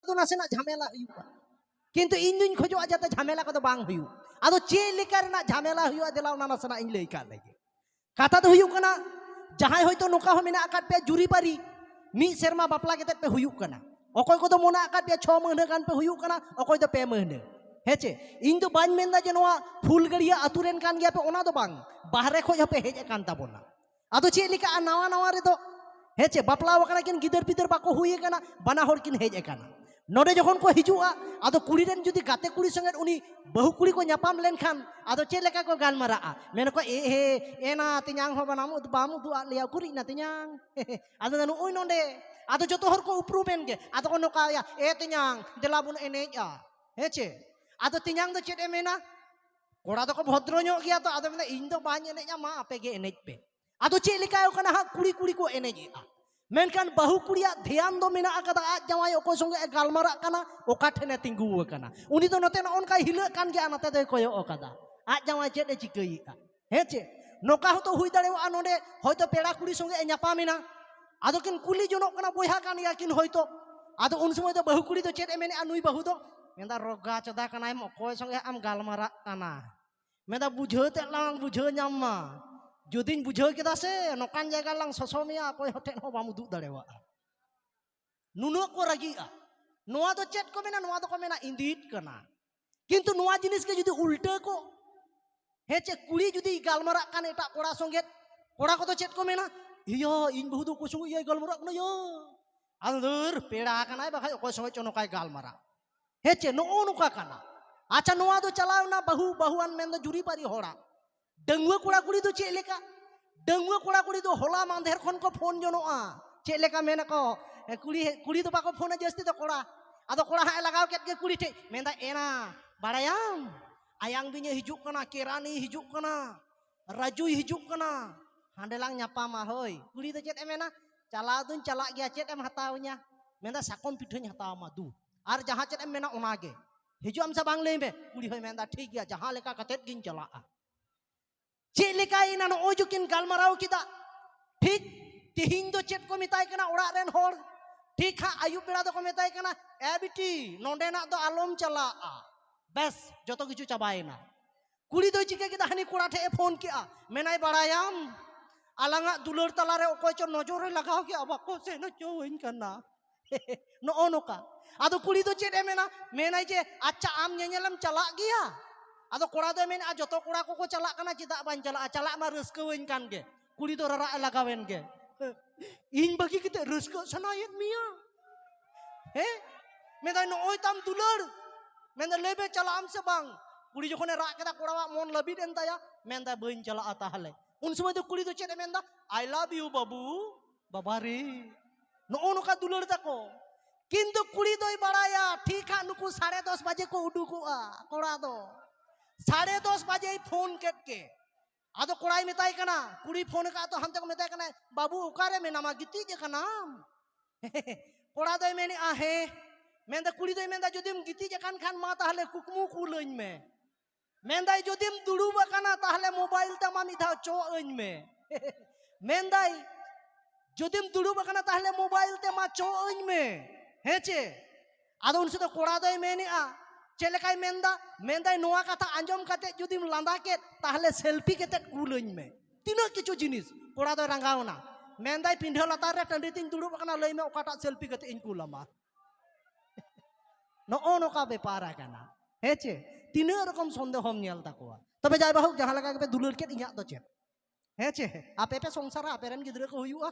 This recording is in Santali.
ᱫᱚ ᱱᱟᱥᱮᱱᱟᱜ ᱡᱷᱟᱢᱮᱞᱟ ᱦᱩᱭᱩᱜᱼᱟ ᱠᱤᱱᱛᱩ ᱤᱧ ᱫᱩᱧ ᱠᱷᱚᱡᱚᱜᱼᱟ ᱡᱟᱛᱮ ᱡᱷᱟᱢᱮᱞᱟ ᱠᱚᱫᱚ ᱵᱟᱝ ᱦᱩᱭᱩᱜ ᱟᱫᱚ ᱪᱮᱫ ᱞᱮᱠᱟ ᱨᱮᱱᱟᱜ ᱡᱷᱟᱢᱮᱞᱟ ᱦᱩᱭᱩᱜᱼᱟ ᱫᱮᱞᱟ ᱚᱱᱟ ᱱᱟᱥᱮᱱᱟᱜ ᱤᱧ ᱞᱟᱹᱭ ᱠᱟᱜ ᱞᱮᱜᱮ ᱠᱟᱛᱷᱟ ᱫᱚ ᱦᱩᱭᱩᱜ ᱠᱟᱱᱟ ᱡᱟᱦᱟᱸᱭ ᱦᱚᱭᱛᱳ ᱱᱚᱝᱠᱟ ᱦᱚᱸ ᱢᱮᱱᱟᱜ ᱟᱠᱟᱫ ᱯᱮᱭᱟ ᱡᱩᱨᱤᱯᱟᱹᱨᱤ ᱢᱤᱫ ᱥᱮᱨᱢᱟ ᱵᱟᱯᱞᱟ ᱠᱟᱛᱮ ᱯᱮ ᱦᱩᱭᱩᱜ ᱠᱟᱱᱟ ᱚᱠᱚᱭ ᱠᱚᱫᱚ ᱢᱮᱱᱟᱜ ᱟᱠᱟᱫ ᱯᱮᱭᱟ ᱪᱷᱚ ᱢᱟᱹᱦᱱᱟᱹ ᱜᱟᱱ ᱯᱮ ᱦᱩᱭᱩᱜ ᱠᱟᱱᱟ ᱚᱠᱚᱭ ᱫᱚ ᱯᱮ ᱢᱟᱹᱦᱱᱟᱹ ᱦᱮᱸᱪᱮ ᱤᱧ ᱫᱚ ᱵᱟᱹᱧ ᱢᱮᱱᱫᱟ ᱡᱮ ᱱᱚᱣᱟ ᱯᱷᱩᱞᱜᱟᱹᱲᱤᱭᱟᱹ ᱟᱛᱳ ᱨᱮᱱ ᱠᱟᱱ ᱜᱮᱭᱟ ᱯᱮ ᱚᱱᱟ ᱫᱚ ᱵᱟᱝ ᱵᱟᱦᱨᱮ ᱠᱷᱚᱡ ᱦᱚᱸᱯᱮ ᱦᱮᱡ ᱟᱠᱟᱱ ᱛᱟᱵᱚᱱᱟ ᱟᱫᱚ ᱪᱮᱫ ᱞᱮᱠᱟ ᱱᱟᱣᱟ ᱱᱟᱣᱟ ᱨᱮᱫᱚ ᱦᱮᱸ ᱪᱮ ᱵᱟᱯᱞᱟ ᱟᱠᱟᱱᱟ ᱠᱤᱱ ᱜᱤᱫᱟᱹᱨ ᱯᱤᱫᱟᱹᱨ ᱵᱟᱠᱚ ᱦᱩᱭ ᱟᱠᱟᱱᱟ ᱵᱟᱱᱟ ᱦᱚᱲ ᱠᱤᱱ ᱦᱮᱡ ᱟᱠᱟᱱᱟ ᱱᱚᱰᱮ ᱡᱚᱠᱷᱚᱱ ᱠᱚ ᱦᱤᱡᱩᱜᱼᱟ ᱟᱫᱚ ᱠᱩᱲᱤ ᱨᱮᱱ ᱡᱩᱫᱤ ᱜᱟᱛᱮ ᱠᱩᱲᱤ ᱥᱚᱸᱜᱮ ᱩᱱᱤ ᱵᱟᱹᱦᱩ ᱠᱩᱲᱤ ᱠᱚ ᱧᱟᱯᱟᱢ ᱞᱮᱱᱠᱷᱟᱱ ᱟᱫᱚ ᱪᱮᱫ ᱞᱮᱠᱟ ᱠᱚ ᱜᱟᱞᱢᱟᱨᱟᱜᱼᱟ ᱢᱮᱱᱟᱠᱚ ᱮ ᱦᱮ ᱮᱱᱟ ᱛᱮᱧᱟᱝ ᱦᱚᱸ ᱵᱟᱱᱟᱢ ᱵᱟᱢ ᱩᱫᱩᱜ ᱟᱫ ᱞᱮᱭᱟ ᱩᱠᱩᱨᱤᱡ ᱱᱟ ᱛᱮᱧᱟᱝ ᱟᱫᱚ ᱱᱩᱜᱼᱩᱭ ᱱᱚᱰᱮ ᱟᱫᱚ ᱡᱚᱛᱚ ᱦᱚᱲ ᱠᱚ ᱩᱯᱨᱩᱢᱮᱱ ᱜᱮ ᱟᱫᱚ ᱠᱚ ᱱᱚᱝᱠᱟᱭᱟ ᱮ ᱛᱮᱧᱟᱝ ᱫᱮᱞᱟ ᱵᱚᱱ ᱮᱱᱮᱡᱼᱟ ᱦᱮᱸ ᱪᱮ ᱟᱫᱚ ᱛᱮᱧᱟᱝ ᱫᱚ ᱪᱮᱫ ᱮ ᱢᱮᱱᱟ ᱠᱚᱲᱟ ᱫᱚᱠᱚ ᱵᱷᱚᱫᱨᱚ ᱧᱚᱜ ᱜᱮᱭᱟ ᱛᱚ ᱟᱫᱚ ᱢᱮᱱᱫᱟ ᱤᱧ ᱫᱚ ᱵᱟᱹᱧ ᱮᱱᱮᱡᱟ ᱢᱟ ᱟᱯᱮ ᱜᱮ ᱮᱱᱮᱡ ᱯᱮ ᱟᱫᱚ ᱪᱮᱫ ᱞᱮᱠᱟᱭ ᱠᱟᱱᱟ ᱦᱟᱸᱜ ᱠᱩᱲᱤ ᱠᱩᱲᱤ ᱠᱚ ᱮᱱᱮᱡᱮᱜᱼᱟ ᱢᱮᱱᱠᱷᱟᱱ ᱵᱟᱹᱦᱩ ᱠᱩᱲᱤᱭᱟᱜ ᱫᱷᱮᱭᱟᱱ ᱫᱚ ᱢᱮᱱᱟᱜ ᱟᱠᱟᱫᱟ ᱟᱡ ᱡᱟᱶᱟᱭ ᱚᱠᱚᱭ ᱥᱚᱸᱜᱮ ᱮ ᱜᱟᱞᱢᱟᱨᱟᱜ ᱠᱟᱱᱟ ᱚᱠᱟ ᱴᱷᱮᱱᱮ ᱛᱤᱸᱜᱩ ᱟᱠᱟᱱᱟ ᱩᱱᱤ ᱫᱚ ᱱᱚᱛᱮ ᱱᱚᱜᱼᱚ ᱱᱚᱝᱠᱟᱭ ᱦᱤᱞᱟᱹᱜ ᱠᱟᱱ ᱜᱮᱭᱟ ᱱᱚᱛᱮ ᱫᱚᱭ ᱠᱚᱭᱚᱜ ᱟᱠᱟᱫᱟ ᱟᱡ ᱡᱟᱶᱟᱭ ᱪᱮᱫ ᱮ ᱪᱤᱠᱟᱹᱭᱮᱫᱼᱟ ᱦᱮᱸ ᱪᱮ ᱱᱚᱝᱠᱟ ᱦᱚᱸᱛᱚ ᱦᱩᱭ ᱫᱟᱲᱮᱭᱟᱜᱼᱟ ᱱᱚᱰᱮ ᱦᱚᱭᱛᱚ ᱯᱮᱲᱟ ᱠᱩᱲᱤ ᱥᱚᱸᱜᱮ ᱮ ᱧᱟᱯᱟᱢᱮᱱᱟ ᱟᱫᱚ ᱠᱤᱱ ᱠᱩᱞᱤ ᱡᱚᱱᱚᱜ ᱠᱟᱱᱟ ᱵᱚᱭᱦᱟ ᱠᱟᱱ ᱜᱮᱭᱟ ᱠᱤᱱ ᱦᱚᱭᱛᱚ ᱟᱫᱚ ᱩᱱ ᱥᱚᱢᱚᱭ ᱫᱚ ᱵᱟᱹᱦᱩ ᱠᱩᱲᱤ ᱫᱚ ᱪᱮᱫ ᱮ ᱢᱮᱱᱮᱜᱼᱟ ᱱᱩᱭ ᱵᱟᱹᱦᱩ ᱫᱚ ᱢᱮᱱᱫᱟ ᱨᱚᱜᱟ ᱪᱚᱫᱟ ᱠᱟᱱᱟᱭ ᱚᱠᱚᱭ ᱥᱚᱸᱜᱮ ᱟᱢ ᱜᱟᱞᱢᱟᱨᱟᱜ ᱠᱟᱱᱟ ᱢᱮᱱᱫᱟ ᱵᱩᱡᱷᱟᱹᱣ ᱛᱮᱫ ᱞᱟᱝ ᱵᱩᱡᱷᱟᱹᱣ ᱧᱟᱢ ᱢᱟ ᱡᱩᱫᱤᱧ ᱵᱩᱡᱷᱟᱹᱣ ᱠᱮᱫᱟ ᱥᱮ ᱱᱚᱝᱠᱟᱱ ᱡᱟᱭᱜᱟ ᱞᱟᱝ ᱥᱚᱥᱚ ᱢᱮᱭᱟ ᱚᱠᱚᱭ ᱦᱚᱴᱮᱡ ᱦᱚᱸ ᱵᱟᱢ ᱩᱫᱩᱜ ᱫᱟᱲᱮᱣᱟᱜᱼᱟ ᱱᱩᱱᱟᱹᱜ ᱠᱚ ᱨᱟᱹᱜᱤᱜᱼᱟ ᱱᱚᱣᱟ ᱫᱚ ᱪᱮᱫ ᱠᱚ ᱢᱮᱱᱟ ᱱᱚᱣᱟ ᱫᱚᱠᱚ ᱢᱮᱱᱟ ᱤᱸᱫᱤᱛ ᱠᱟᱱᱟ ᱠᱤᱱᱛᱩ ᱱᱚᱣᱟ ᱡᱤᱱᱤᱥ ᱜᱮ ᱡᱩᱫᱤ ᱩᱞᱴᱟᱹ ᱠᱚ ᱦᱮᱸ ᱪᱮᱫ ᱠᱩᱲᱤ ᱡᱩᱫᱤ ᱜᱟᱞᱢᱟᱨᱟᱜ ᱠᱟᱱ ᱮᱴᱟᱜ ᱠᱚᱲᱟ ᱥᱚᱸᱜᱮ ᱠᱚᱲᱟ ᱠᱚᱫᱚ ᱪᱮᱫ ᱠᱚ ᱢᱮᱱᱟ ᱤᱭᱟᱹ ᱤᱧ ᱵᱟᱹᱦᱩ ᱫᱚ ᱚᱠᱚᱭ ᱥᱚᱸᱜᱮ ᱤᱭᱟᱹᱭ ᱜᱟᱞᱢᱟᱨᱟᱜ ᱠᱟᱱᱟ ᱭᱟ ᱟᱫᱚ ᱫᱷᱟᱹᱨ ᱯᱮᱲᱟ ᱠᱟᱱᱟᱭ ᱵᱟᱠᱷᱟᱡ ᱚᱠᱚᱭ ᱥᱚᱸᱜᱮ ᱪᱚ ᱱᱚᱝᱠᱟᱭ ᱜᱟᱞᱢᱟᱨᱟᱜ ᱦᱮᱸ ᱪᱮ ᱱᱚᱜᱼᱚ ᱱᱚᱝᱠᱟ ᱠᱟᱱᱟ ᱟᱪᱪᱷᱟ ᱱᱚᱣᱟ ᱫᱚ ᱪᱟᱞᱟᱣᱱᱟ ᱵᱟᱹᱦᱩ ᱵᱟᱹᱦᱩᱣᱟᱱ ᱢᱮᱱᱫᱚ ᱡᱩᱨᱤᱯᱟᱹᱨᱤ ᱦᱚᱲᱟᱜ ᱰᱟᱺᱜᱩᱣᱟᱹ ᱠᱚᱲᱟ ᱠᱩᱲᱤ ᱫᱚ ᱪᱮᱫ ᱞᱮᱠᱟ ᱰᱟᱺᱜᱩᱣᱟᱹ ᱠᱚᱲᱟ ᱠᱩᱲᱤ ᱫᱚ ᱦᱚᱞᱟ ᱢᱟᱫᱷᱮᱨ ᱠᱷᱚᱱ ᱠᱚ ᱯᱷᱳᱱ ᱡᱚᱱᱚᱜᱼᱟ ᱪᱮᱫ ᱞᱮᱠᱟ ᱢᱮᱱᱟᱠᱚ ᱠᱩᱲᱤ ᱠᱩᱲᱤ ᱫᱚ ᱵᱟᱠᱚ ᱯᱷᱳᱱᱟ ᱡᱟᱹᱥᱛᱤ ᱫᱚ ᱠᱚᱲᱟ ᱟᱫᱚ ᱠᱚᱲᱟ ᱦᱟᱸᱜ ᱮ ᱞᱟᱜᱟᱣ ᱠᱮᱫ ᱜᱮ ᱠᱩᱲᱤ ᱴᱷᱮᱡ ᱢᱮᱱᱫᱟ ᱮᱱᱟ ᱵᱟᱲᱟᱭᱟᱢ ᱟᱭᱟᱝ ᱵᱤᱧᱮ ᱦᱤᱡᱩᱜ ᱠᱟᱱᱟ ᱠᱮᱨᱟᱱᱤ ᱦᱤᱡᱩᱜ ᱠᱟᱱᱟ ᱨᱟᱡᱩᱭ ᱦᱤᱡᱩᱜ ᱠᱟᱱᱟ ᱦᱟᱸᱰᱮ ᱞᱟᱝ ᱧᱟᱯᱟᱢᱟ ᱦᱳᱭ ᱠᱩᱲᱤ ᱫᱚ ᱪᱮᱫ ᱮ ᱢᱮᱱᱟ ᱪᱟᱞᱟᱣ ᱫᱩᱧ ᱪᱟᱞᱟᱜ ᱜᱮᱭᱟ ᱪᱮᱫ ᱮᱢ ᱦᱟᱛᱟᱣᱤᱧᱟ ᱢᱮᱱᱫᱟ ᱥᱟᱠᱚᱢ ᱯᱤᱴᱷᱟᱹᱧ ᱦᱟᱛᱟᱣᱟᱢᱟ ᱫᱩ ᱟᱨ ᱡᱟᱦᱟᱸ ᱪᱮᱫ ᱮᱢ ᱢᱮᱱᱟ ᱚᱱᱟᱜᱮ ᱦᱤᱡᱩᱜ ᱟᱢ ᱥᱮ ᱵᱟᱝ ᱞᱟᱹᱭ ᱢᱮ ᱠᱩᱲᱤ ᱦᱚᱸᱭ ᱢᱮᱱᱫᱟ ᱴᱷᱤᱠ ᱜᱮᱭᱟ ᱡᱟᱦᱟᱸ ᱞᱮᱠᱟ ᱠᱟᱛᱮᱫ ᱜᱤᱧ ᱪᱟᱞᱟᱜᱼᱟ ᱪᱮᱫ ᱞᱮᱠᱟᱭᱮᱱᱟ ᱱᱚᱜᱼᱚᱭ ᱡᱩᱠᱤᱱ ᱜᱟᱞᱢᱟᱨᱟᱣ ᱠᱮᱫᱟ ᱴᱷᱤᱠ ᱛᱮᱦᱤᱧ ᱫᱚ ᱪᱮᱫ ᱠᱚ ᱢᱮᱛᱟᱭ ᱠᱟᱱᱟ ᱚᱲᱟᱜ ᱨᱮᱱ ᱦᱚᱲ ᱴᱷᱤᱠ ᱦᱟᱸᱜ ᱟᱹᱭᱩᱵ ᱵᱮᱲᱟ ᱫᱚᱠᱚ ᱢᱮᱛᱟᱭ ᱠᱟᱱᱟ ᱮ ᱵᱤᱴᱤ ᱱᱚᱸᱰᱮᱱᱟᱜ ᱫᱚ ᱟᱞᱚᱢ ᱪᱟᱞᱟᱜᱼᱟ ᱵᱮᱥ ᱡᱚᱛᱚ ᱠᱤᱪᱷᱩ ᱪᱟᱵᱟᱭᱮᱱᱟ ᱠᱩᱲᱤ ᱫᱚᱭ ᱪᱤᱠᱟᱹ ᱠᱮᱫᱟ ᱦᱟᱹᱱᱤ ᱠᱚᱲᱟ ᱴᱷᱮᱡ ᱮ ᱯᱷᱳᱱ ᱠᱮᱫᱼᱟ ᱢᱮᱱᱟᱭ ᱵᱟᱲᱟᱭᱟᱢ ᱟᱞᱟᱝᱟᱜ ᱫᱩᱞᱟᱹᱲ ᱛᱟᱞᱟᱨᱮ ᱚᱠᱚᱭ ᱪᱚ ᱱᱚᱡᱚᱨᱮ ᱞᱟᱜᱟᱣ ᱠᱮᱫᱼᱟ ᱵᱟᱠᱚ ᱥᱮᱱ ᱦᱚᱪᱚᱣᱟᱹᱧ ᱠᱟᱱᱟ ᱱᱚᱜᱼᱚ ᱱᱚᱝᱠᱟ ᱟᱫᱚ ᱠᱩᱲᱤ ᱫᱚ ᱪᱮᱫ ᱮ ᱢᱮᱱᱟ ᱢᱮᱱᱟᱭ ᱡᱮ ᱟᱪᱪᱷᱟ ᱟᱢ ᱧᱮᱧᱮᱞᱮᱢ ᱪᱟᱞᱟᱜ ᱜᱮᱭᱟ ᱟᱫᱚ ᱠᱚᱲᱟ ᱫᱚᱭ ᱢᱮᱱᱟ ᱡᱚᱛᱚ ᱠᱚᱲᱟ ᱠᱚᱠᱚ ᱪᱟᱞᱟᱜ ᱠᱟᱱᱟ ᱪᱮᱫᱟᱜ ᱵᱟᱹᱧ ᱪᱟᱞᱟᱜᱼᱟ ᱪᱟᱞᱟᱜ ᱢᱟ ᱨᱟᱹᱥᱠᱟᱹᱣᱟᱹᱧ ᱠᱟᱱ ᱜᱮ ᱠᱩᱲᱤ ᱫᱚ ᱨᱟᱨᱟᱜ ᱮ ᱞᱟᱜᱟᱣᱮᱱ ᱜᱮ ᱤᱧ ᱵᱟᱹᱜᱤ ᱠᱟᱛᱮ ᱨᱟᱹᱥᱠᱟᱹᱜ ᱥᱟᱱᱟᱭᱮᱫ ᱢᱮᱭᱟ ᱦᱮᱸ ᱢᱮᱱᱫᱟᱭ ᱱᱚᱜᱼᱚᱭ ᱛᱟᱢ ᱫᱩᱞᱟᱹᱲ ᱢᱮᱱᱫᱟ ᱞᱟᱹᱭ ᱢᱮ ᱪᱟᱞᱟᱜ ᱟᱢ ᱥᱮ ᱵᱟᱝ ᱠᱩᱲᱤ ᱡᱚᱠᱷᱚᱱᱮ ᱨᱟᱜ ᱠᱮᱫᱟ ᱠᱚᱲᱟᱣᱟᱜ ᱢᱚᱱ ᱞᱟᱹᱵᱤᱫ ᱮᱱ ᱛᱟᱭᱟ ᱢᱮᱱᱫᱟᱭ ᱵᱟᱹᱧ ᱪᱟᱞᱟᱜᱼᱟ ᱛᱟᱦᱚᱞᱮ ᱩᱱ ᱥᱚᱢᱚᱭ ᱫᱚ ᱠᱩᱲᱤ ᱫᱚ ᱪᱮᱫ ᱮ ᱢᱮᱱᱫᱟ ᱟᱭ ᱞᱟᱵᱷ ᱤᱭᱩ ᱵᱟᱹᱵᱩ ᱵᱟᱵᱟ ᱨᱮ ᱱᱚᱜᱼᱚ ᱱᱚᱝᱠᱟ ᱫᱩᱞᱟᱹᱲ ᱛᱟᱠᱚ ᱠᱤᱱᱛᱩ ᱠᱩᱲᱤ ᱫᱚᱭ ᱵᱟᱲᱟᱭᱟ ᱴᱷᱤᱠ ᱦᱟᱸᱜ ᱱᱩᱠᱩ ᱥᱟᱲᱮ ᱫᱚᱥ ᱵᱟᱡᱮ ᱠᱚ ᱩᱰᱩᱠᱚᱜᱼᱟ ᱠᱚᱲᱟ ᱫᱚ ᱥᱟᱲᱮ ᱫᱚᱥ ᱵᱟᱡᱮᱭ ᱯᱷᱳᱱ ᱠᱮᱫ ᱜᱮ ᱟᱫᱚ ᱠᱚᱲᱟᱭ ᱢᱮᱛᱟᱭ ᱠᱟᱱᱟ ᱠᱩᱲᱤ ᱯᱷᱳᱱ ᱟᱠᱟᱫ ᱛᱚ ᱦᱟᱱᱛᱮ ᱠᱚ ᱢᱮᱛᱟᱭ ᱠᱟᱱᱟ ᱵᱟᱹᱵᱩ ᱚᱠᱟᱨᱮ ᱢᱮᱱᱟᱢᱟ ᱜᱤᱛᱤᱡ ᱟᱠᱟᱱᱟᱢ ᱠᱚᱲᱟ ᱫᱚᱭ ᱢᱮᱱᱮᱫᱼᱟ ᱦᱮᱸ ᱢᱮᱱᱫᱟ ᱠᱩᱲᱤ ᱫᱚᱭ ᱢᱮᱱᱫᱟ ᱡᱩᱫᱤᱢ ᱜᱤᱛᱤᱡ ᱟᱠᱟᱱ ᱠᱷᱟᱱ ᱢᱟ ᱛᱟᱦᱞᱮ ᱠᱩᱠᱢᱩ ᱠᱩᱞᱟᱹᱧ ᱢᱮ ᱢᱮᱱᱫᱟᱭ ᱡᱩᱫᱤᱢ ᱫᱩᱲᱩᱵ ᱟᱠᱟᱱᱟ ᱛᱟᱦᱞᱮ ᱢᱳᱵᱟᱭᱤᱞ ᱛᱟᱢᱟ ᱢᱤᱫ ᱫᱷᱟᱣ ᱪᱚᱜ ᱟᱹᱧ ᱢᱮ ᱢᱮᱱᱫᱟᱭ ᱡᱩᱫᱤᱢ ᱫᱩᱲᱩᱵ ᱟᱠᱟᱱᱟ ᱛᱟᱦᱞᱮ ᱢᱳᱵᱟᱭᱤᱞ ᱛᱮ ᱢᱟ ᱪᱚᱜ ᱟᱹᱧ ᱢᱮ ᱦᱮᱸ ᱪᱮ ᱟᱫᱚ ᱩᱱ ᱥᱮᱫ ᱫᱚ ᱠᱚᱲᱟ ᱫᱚᱭ ᱢᱮᱱᱮᱜᱼᱟ ᱪᱮᱫ ᱞᱮᱠᱟᱭ ᱢᱮᱱᱫᱟ ᱢᱮᱱᱫᱟᱭ ᱱᱚᱣᱟ ᱠᱟᱛᱷᱟ ᱟᱸᱡᱚᱢ ᱠᱟᱛᱮ ᱡᱩᱫᱤᱢ ᱞᱟᱸᱫᱟ ᱠᱮᱫ ᱛᱟᱦᱞᱮ ᱥᱮᱞᱯᱷᱤ ᱠᱟᱛᱮ ᱠᱩᱞᱟᱹᱧ ᱢᱮ ᱛᱤᱱᱟᱹᱜ ᱠᱤᱪᱷᱩ ᱡᱤᱱᱤᱥ ᱠᱚᱲᱟ ᱫᱚᱭ ᱨᱟᱸᱜᱟᱣᱱᱟ ᱢᱮᱱᱫᱟᱭ ᱯᱤᱸᱰᱷᱟᱹ ᱞᱟᱛᱟᱨ ᱨᱮ ᱴᱟᱺᱰᱤ ᱛᱤᱧ ᱫᱩᱲᱩᱵ ᱟᱠᱟᱱᱟ ᱞᱟᱹᱭ ᱢᱮ ᱚᱠᱟᱴᱟᱜ ᱥᱮᱞᱯᱷᱤ ᱠᱟᱛᱮ ᱤᱧ ᱠᱩᱞᱟᱢᱟ ᱱᱚᱜᱼᱚ ᱱᱚᱝᱠᱟ ᱵᱮᱯᱟᱨ ᱟᱠᱟᱱᱟ ᱦᱮᱸ ᱪᱮ ᱛᱤᱱᱟᱹᱜ ᱨᱚᱠᱚᱢ ᱥᱚᱱᱫᱮᱦᱚᱢ ᱧᱮᱞ ᱛᱟᱠᱚᱣᱟ ᱛᱚᱵᱮ ᱡᱟᱭ ᱵᱟᱦᱩ ᱡᱟᱦᱟᱸ ᱞᱮᱠᱟ ᱜᱮᱯᱮ ᱫᱩᱞᱟᱹᱲ ᱠᱮᱫ ᱤᱧᱟᱹᱜ ᱫᱚ ᱪᱮᱫ ᱦᱮᱸ ᱪᱮ ᱟᱯᱮ ᱯᱮ ᱥᱚᱝᱥᱟᱨᱟ ᱟᱯᱮ ᱨᱮᱱ ᱜᱤᱫᱽᱨᱟᱹ ᱠᱚ ᱦᱩᱭᱩᱜᱼᱟ